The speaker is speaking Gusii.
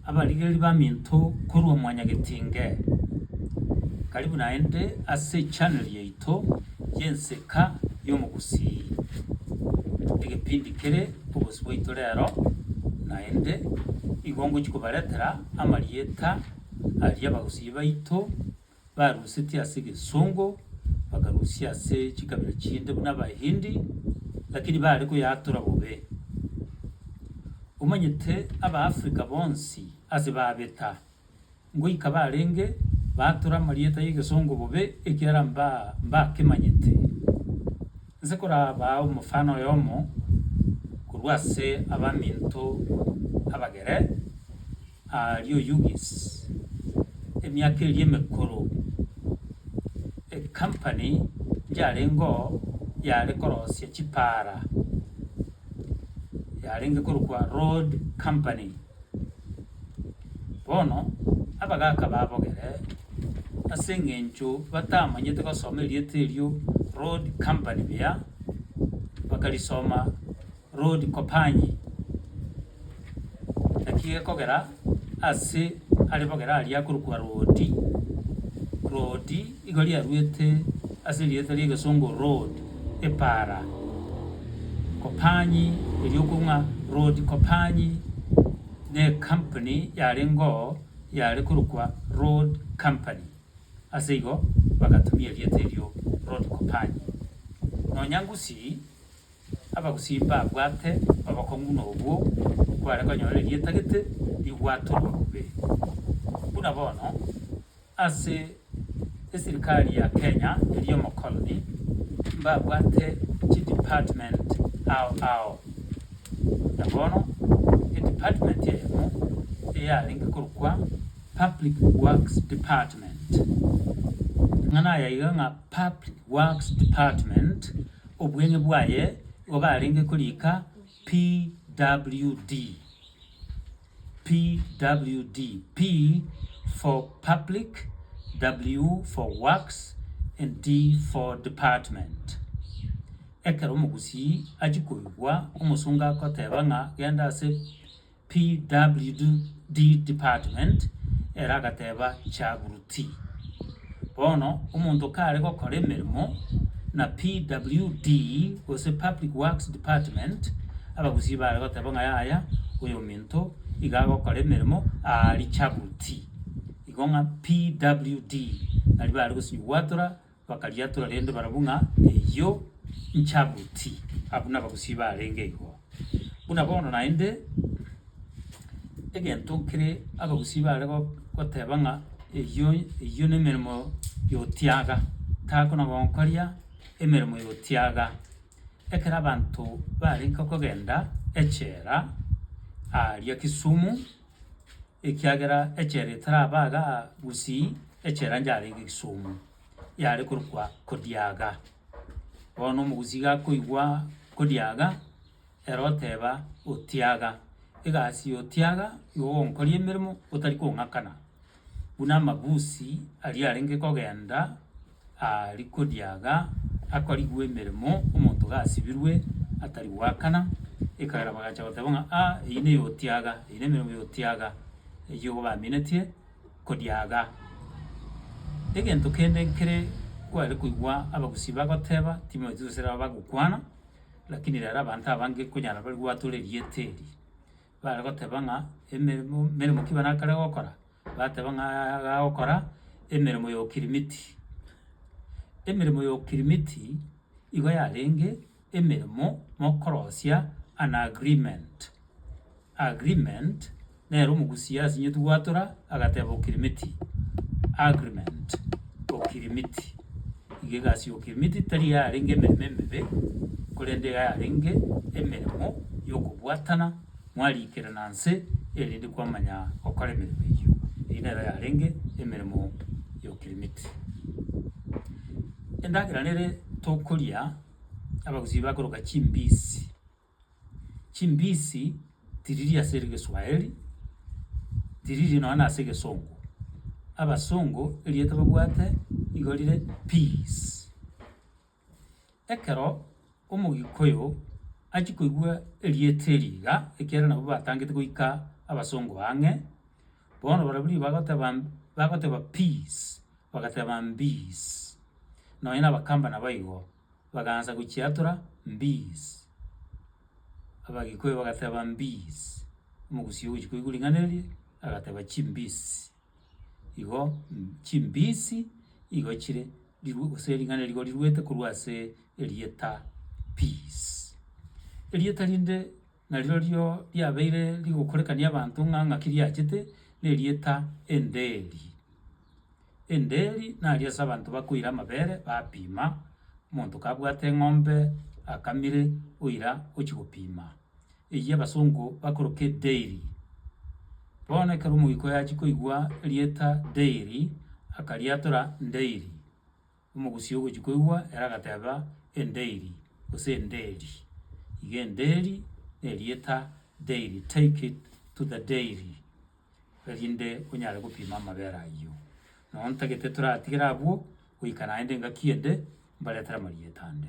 abarigereria baminto korwa Mwanyagetinge. Karibu naende ase echanel yaito y'Ensika y'Omogusii. Egepindi kere Obosio Bwaito Rero naende igo ngochia kobaretera amarieta aria abagusii baito barusetie ase egesongo, bakarusia ase chikabira chinde buna Abahindi, lakini baare koyatora bobe. Omanyete Abaafrika bonsi ase babeta, ngoika barenge baatora amarieta y'egesongo bobe ekiagera mbakemanyete. Inse korabaa omofano oyomo korwa ase abaminto abagere. Aaria Oyugis, emiaka eria emekoro, ecompany yarengeo yare korosia chipara, yarenge korokwa Road Company. Bono abagaka babogere ase engencho batamanyete gosoma erieta erio Road Company buya, bakarisoma Rodi Kopanyi, naki gekogera ase are bogera aria akorokwa Rodi, Rodi, igo riaruete ase erieta ri'egesongo Rod, epara, Kopanyi erio okwo ng'a Rodi Kopanyi n'ekampuni yarengeo yare korokwa Rod Company, ase igo bagatumia erieta erio Rodi Kopanyi. Nonya Gusii Abagusii mbabwate obokong'u buna obwo kware konyora erieta gete ribwatorwa bobe. Buna bono, ase esirikari ya Kenya eria omokoloni, mbabwate chidepartment ao ao. Na bono edepartment eyemo eyarenge korokwa Public Works Department. Ng'a nayaiga ng'a Public Works Department Obweng'e bwaye igo barenge koriika PWD, PWD, P for Public, W for Works, and D for Department. Ekero omogusii achia koigwa omosongo agoteeba ng'a genda ase. PWD department ere agateba Chaburuti. Bono omonto kare gokora emeremo na PWD gose public works department abagusii bare goteba ng'a yaya oyo ominto iga agokora emeremo aari Chaburuti. Igo ng'a PWD nari bare gosibwatora Bakariatora rende barabwo ng'a eyio nchabuti, abwo nabagusii baarenge igo. Buna bono naende, egento kere abagusii baare goteba ng'a eyio eyio nemeremo yotiaga, takona gonkoria emeremo yotiaga. Ekero abanto barenge kogenda echela aaria Kisumu. Ekiagera echela etaraba iga gusii, echela yarenge egesumu, yare korokwa Kodiaga. Bono omogusii gakoigwa Kodiaga, ere oteba Otiaga. Egasi ya Otiaga nigo ogonkoria emeremo otari kong'akana, buna amabusi aria arenge kogenda. Arikodiaga akorigwa emeremo, omonto gasibirwe atari goakana, ekagera bagacha goteba ng'a a eyio ne yotiaga, eyio ne emeremo yotiaga eyio igo baminetie kodiaga. Egento kende nkere kware koigwa abagusii bagoteba timanyeti gose nabo bagokwana, lakini rero abanto abange konyara bari gwatora erieta eri. Bare goteba ng'a emeremo meremo ki bana akare gokora? Bateba ng'a iga agokora emeremo ya okirimiti. Emeremo ya okirimiti igo yarenge emeremo mokorosia an agreement. Agreement nere omogusia asinyetu gwatora. Agateeba Okirimiti, Agreement, Okirimiti. Iga egasi y'Okirimiti tari yarenge emeremo emebe, korende iga yarenge emeremo y'okobwatana mwariikerana nse erinde kwamanya gokora emeremo eyio. Eyio nero yarenge emeremo y'Okirimiti. Endagera nere tokoria, Abagusii bakoroka chimbisi. Chimbisi tiriri ase egeswaeri, tiriri nonya na ase egesongo. Abasongo erieta babwate nigo rire peas. Ekero omogikoyo achia koigwa erieta eri iga, ekiagera nabo batangete goika abasongo ang'e, bono barobwo riria bagoteba bagoteba peas, bagateba mbiis, nonya na abakamba nabo igo. Bagaancha gochiatora, Mbiisi! Abagikuyu bagateeba, Mbiisi! Omogusii ogochia koigwa ring'ana erio, agateeba, Chimbiisi! Igo chimbiisi igo chire riru gose ring'ana riria riruete korwa ase erieta peace. Erieta rinde. narirorio riabeire rigokorekania abanto ng'a ng'aki riachete, nerieta enderi. Enderi naria ase abanto bakoira amabere bapima, omonto kabwate eng'ombe akamire oira ochia gopima, eyio abasongo bakoroka edairy. Bono ekero omoika oye achia koigwa erieta dairy, akariatora ndairy. Omogusii ogochia koigwa ere agateba, Endeiri, gose enderi, iga enderi na erieta dairy, take it to the dairy, erinde onyare gopima amabere ayio. Nonye ntagete toratigere abwo, goika naende engaki ende mbaretere amarieta ande.